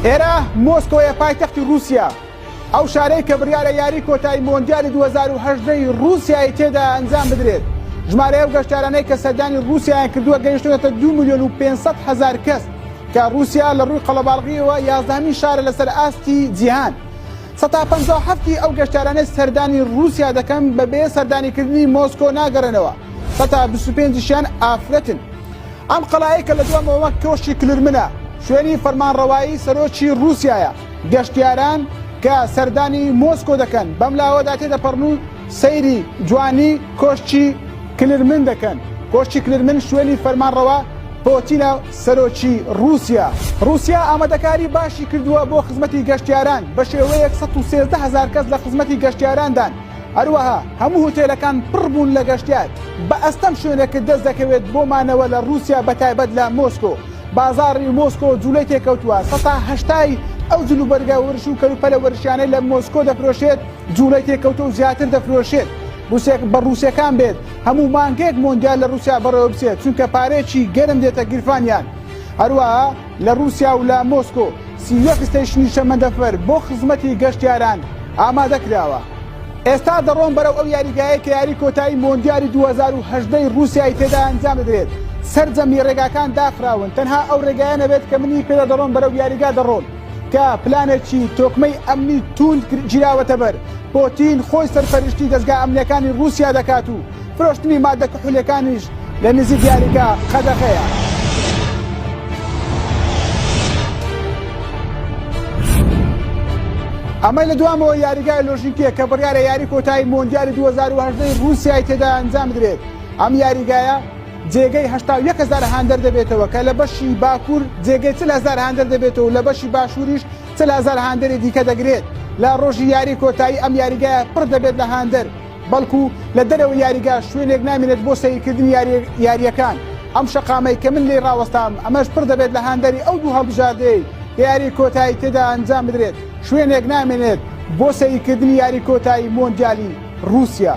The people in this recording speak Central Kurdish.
ئێرە مۆسکۆیە پایتەختی رووسیا ئەو شارەی کە بڕیارە یاری کۆتایی مۆندیالی 2010 رووسایی تێدا ئەنجام بدرێت ژمارەیە و گەشتارانەی کە سەردانی رووسیایان کردووە گەیشتوێتە دو میلیۆن و 500 هزار کەس کە ڕووسیا لە ڕووی قەڵەباڵغییەوە یازدەهەمین شارە لەسەر ئاستی جیهان. سەتا پەنجا و حەفت ی ئەو گەشتیارانەی سەردانی ڕووسیا دەکەن بەبێ سەردانیکردنی مۆسکۆ ناگەڕێنەوە، سەتا بیست و پێنج شیان ئافرەتن. ئەم قەڵایەی کە لە دوامەوە وەک کۆشکی کلرمنە، شوێنی فەرمانڕەوایی سەرۆکی ڕووسیایە، گەشتیاران کە سەردانی مۆسکۆ دەکەن بەم لاوەدا تێدەپەڕن و سەیری جوانی کۆشکی کلرمن دەکەن، کۆشکی کلرمن شوێنی فەرمانڕەوا پۆتینە. سەرۆکی ڕووسیا، ڕووسیا ئامادەکاری باشی کردووە بۆ خزمەتی گەشتیاران، بەشێوەیەک سەد و سێزدە هەزار کەس لە خزمەتی گەشتیاراندان، هەروەها هەموو هوتێلەکان پڕ بوون لە گەشتیار، بە ئەستەم شوێنێکت دەست دەکەوێت بۆ مانەوە لە ڕووسیا بەتایبەت لە مۆسکۆ، بازاڕی مۆسکۆ جوڵەی تێکەوتووە، سەتا هەشتای ئەو جلوبەرگە ورش و کەلوپەلە ورشیانەی لە مۆسکۆ دەفرۆشێت جوڵەی تێکەوتووە و زیاتر دەفرۆشێت بە ڕووسەکان بێت. هەموو مانگێک مۆندیال لە رووسیا بەڕێوە بچێت چونکە پارەیەکی گەرم دێتە گیرفانیان هەروەها لە رووسیا و لە مۆسکۆ سی یەک ستەیشنی شەمەندەفەر بۆ خزمەتی گەشتیاران ئامادە کراوە ئێستا دەڕۆن بەرەو ئەو یاریگایە کە یاری کۆتایی مۆندیالی 2010 ی رووسیای تێدا ئەنجام دەدرێت سەرجەمی رێگاکان داخراون تەنها ئەو رێگایە نەبێت کە منی پێدا دەڕۆن بەرەو یاریگا دەڕۆن کە پلانێکی تۆکمەی ئەمنی توند گیراوەتە بەر، پۆتین خۆی سەرپەرشتی دەزگا ئەمنیەکانی رووسیا دەکات و فرۆشتنی ماددە کحولیەکانیش لە نزیک یاریگا قەدەغەیە. ئەمەی لە دوامەوە یاریگای لۆژیکیە کە بڕیارە یاری کۆتایی مۆندیالی 2018 ی رووسیای تێدا ئەنجام بدرێت ئەم یاریگایە جێگەی هەشتا و یەک هەزار هاندەر دەبێتەوە کە لە بەشی باکوور جێگەی چل هەزار هاندەر دەبێتەوە و لە بەشی باشووریش چل هەزار هاندەری دیکە دەگرێت لە ڕۆژی یاری کۆتایی ئەم یاریگایە پڕ دەبێت لە هاندەر بەڵکو لە دەرەوەی یاریگا شوێنێک نامێنێت بۆ سەیرکردنی یارییەکان ئەم شەقامەی کە من لێی ڕاوەستام ئەمەش پڕ دەبێت لە هاندەری ئەو دوو هەڵبژاردەی کە یاری کۆتایی تێدا ئەنجام بدرێت شوێنێک نامێنێت بۆ سەیرکردنی یاری کۆتایی مۆندیالی ڕووسیا.